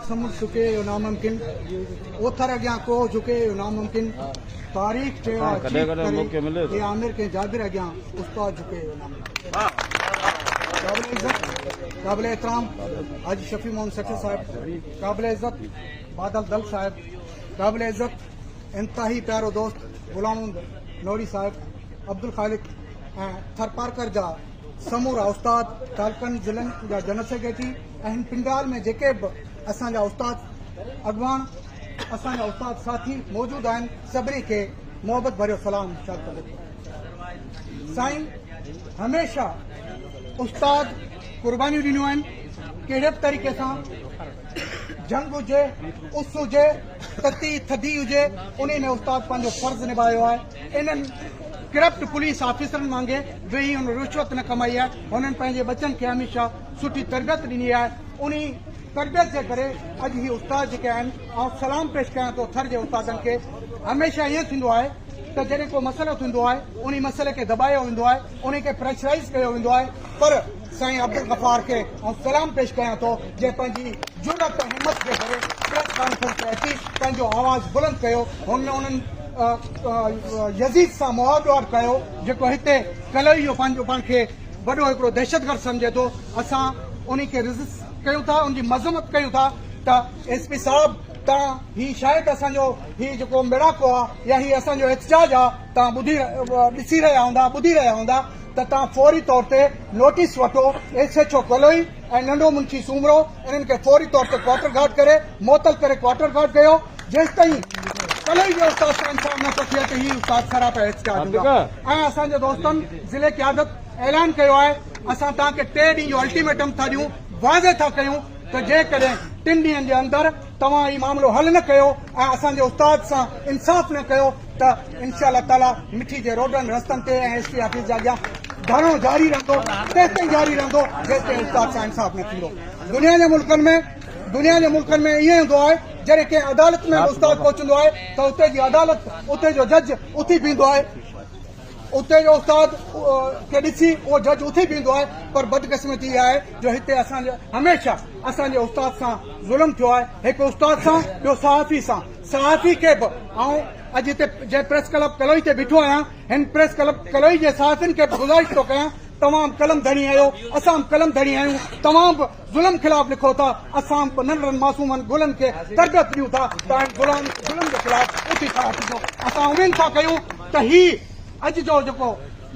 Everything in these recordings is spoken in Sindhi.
سمنڊ سڪي اهو ناممڪن، اوٿر اڳيان ڪوهه جهڪي اهو ناممڪن، تاريخ چيو آهي چيخ ڪري اي عامر ڪنهن جابر اڳيان استاد جهڪي اهو ناممڪن. قابل عزت قابل احترام حاجي شفيع محمد سٺي صاحب، قابل عزت بادل دل صاحب، قابل عزت انتهائي پيارو دوست غلام محمد نوري صاحب، عبدالخالق ۽ ٿرپارڪر جا سمورا استاد تعلقن ضلعن جا جنرل سيڪريٽري، ۽ هن پنڊال ۾ جيڪي به اسان جا استاد اڳواڻ اسان جا استاد ساٿي موجود آهن سڀني کي محبت ڀريو سلام ارشاد ڪندو ٿو سائين هميشه استاد قربانيون ڏنيون آهن ڪهڙي به طريقي سان جنگ هجي اس هجي تتي ٿڌي هجي ان ۾ استاد پنهنجو فرض نڀايو آهي انهن ڪرپٽ پوليس آفيسرن وانگي ويهي هن رشوت نه ڪمائي آهي، هنن پنهنجي ٻچن کي هميشه سٺي تربيت ڏني آهي، انهي تربيت جي ڪري اڄ هي استاد جيڪي آهن، آئون سلام پيش ڪيان ٿو ٿر جي استادن کي، هميشه ائين ٿيندو آهي ته جڏهن ڪو مسئلو ٿيندو آهي، انهي مسئلي کي دٻايو ويندو آهي، انهي کي پريشرائيز ڪيو ويندو آهي، پر. سائين عبدالغفار کي آئون سلام پيش ڪيان ٿو جنهن پنهنجي جرئت ۽ همت جي ڪري پريس ڪانفرنس تي اچي پنهنجو آواز بلند ڪيو هن انهن يزيد سان مهاڙ ڏوهاڙ ڪيو جيڪو هتي ڪلهوڙي جو پنهنجو پاڻ کي وڏو هڪڙو دهشتگرد سمجهي ٿو اسان انهي کي ريزسٽ ڪيون ٿا ان جي مذمت ڪيون ٿا ته ايس پي صاحب تان هي شايد اسان جو هي جيڪو ميڙاڪو آ يا هي اسان جو احتجاج آ تان ٻڌي ڏسي رهيا هوندا ٻڌي رهيا هوندا ته توهان فوري طور تي نوٽيس وٺو ايس ايڇ او ڪلوئي ۽ ننڍو منشي سومرو انهن کي فوري طور تي ڪوارٽر گارڊ ڪري معطل ڪري ڪوارٽر گارڊ ڪيو جيستائين ڪلوئي جي استاد سان انصاف نه ٿو ٿئي ته هي استاد سرا پيا ايڇ ڪيا جوندا ۽ اسان جي دوستن ضلعي قيادت اعلان ڪيو آهي اسان توهان کي ٽي ڏينهن جو الٽيميٽم ٿا ڏيون واضح ٿا ڪيون ته جيڪڏهن ٽن ڏينهن جي اندر توهان هي معاملو حل نه ڪيو ۽ اسان جي استاد سان انصاف نه ڪيو ته انشاء الله تعالي مٺي جي روڊن رستن تي ۽ ايس پي آفيس جي اڳيان ڌرڻو جاري رهندو تيستائين جاري رهندو جيستائين استاد سان انصاف نه ٿيندو دنيا جي ملڪن ۾ دنيا جي ملڪن ۾ ائين هوندو آهي جڏهن ڪنهن عدالت ۾ استاد پهچندو آهي ته اتي جي عدالت اتي جو جج اٿي بيهندو آهي اتي جو استاد کي ڏسي اهو جج اٿي بيهندو آهي پر بدقسمتي اها آهي جو هتي اسان جي هميشه اسان جي استاد سان ظلم ٿيو آهي هڪ استاد سان ٻيو صحافي سان صحافي کي به آئون اڄ هتي جنهن پريس ڪلب ڪلوئي تي بيٺو آهيان هن پريس ڪلب ڪلوئي جي صحافين کي به گذارش ٿو ڪيان توهان قلم ڌڻي آهيو اسان قلم ڌڻي آهيون توهان به ظلم خلاف لکو ٿا، اسان به ننڍڙن معصومن گلن کي تربيت ڏيون ٿا ته انهن ظلم جي خلاف اٿي کڙا ٿيجو. اسان اميد ٿا ڪيون ته هي اڄ جو جيڪو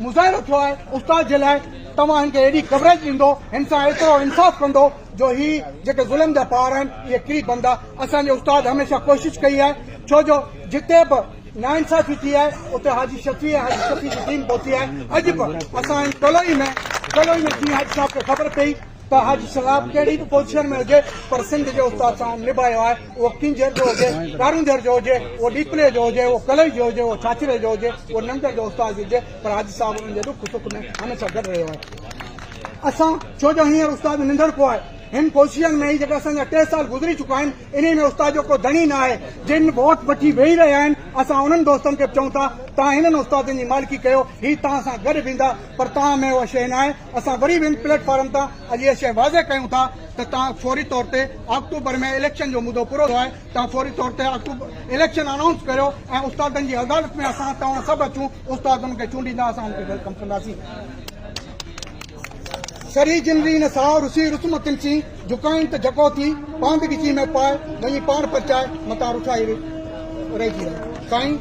مظاهرو ٿيو آهي استاد جي لاء توهان هن کي اهڙي ڪوريج ڏيندو، هن سان ايترو انصاف ڪندو جو هي جيڪي ظلم جا پهاڙ آهن اهي ڪري پوندا. اسان جي استاد هميشه ڪوشش ڪئي آهي ڇو جو جتي به ناانصافي ٿي آهي اتي حاجي شفيع ۽ حاجي شفيع جي ٽيم پهتي آهي. اڄ به اسان جي ڪلوئي ۾ ڪلوئي ۾ جيئن حاجي صاحب کي خبر پئي. ته اڄ سلاب ڪهڙي به پوزيشن ۾ هجي پر سنڌ جي استاد سان هن نڀايو آهي اهو ڪينجهر جو هجي ڪارونجهر جو هجي اهو ڏيپلي جو هجي اهو ڪلئي جو هجي اهو ڇاڇري جو هجي اهو ننگر جو استاد هجي پر حاجي صاحب انهن جي ڏک سک ۾ هن سان گڏ رهيو آهي اسان ڇو جو هينئر استاد ننڍڙڪو آهي هن پوزيشن ۾ ئي جيڪا اسان جا ٽي سال گذري چڪا آهن انهي ۾ استاد جو ڪو ڌڻي نه آهي جن ووٽ وٺي ويهي رهيا آهن اسان انهن دوستن کي به چئون ٿا توهان هنن استادن جي مالڪي ڪيو هي توهان سان گڏ ويندا پر توهان ۾ اها شيء نه آهي اسان وري به ان پليٽ فارم تان اڄ اها شيء واضح ڪيون ٿا ته توهان فوري طور تي آڪٽوبر ۾ اليڪشن جو مدو پورو ٿيو آهي توهان فوري طور تي اليڪشن انائونس ڪريو ۽ استادن جي عدالت ۾ اسان توهان سڀ اچون استاد ان کي چونڊيندا اسان ان کي ويلڪم ڪنداسين سري جنري نه ساهو رسي رسم تنسي جھڪائين ته جھڪو ٿي پاند ڳچي ۾ پائي وڃي پاڻ پرچائي متان رٺائي رهجي رهي سائين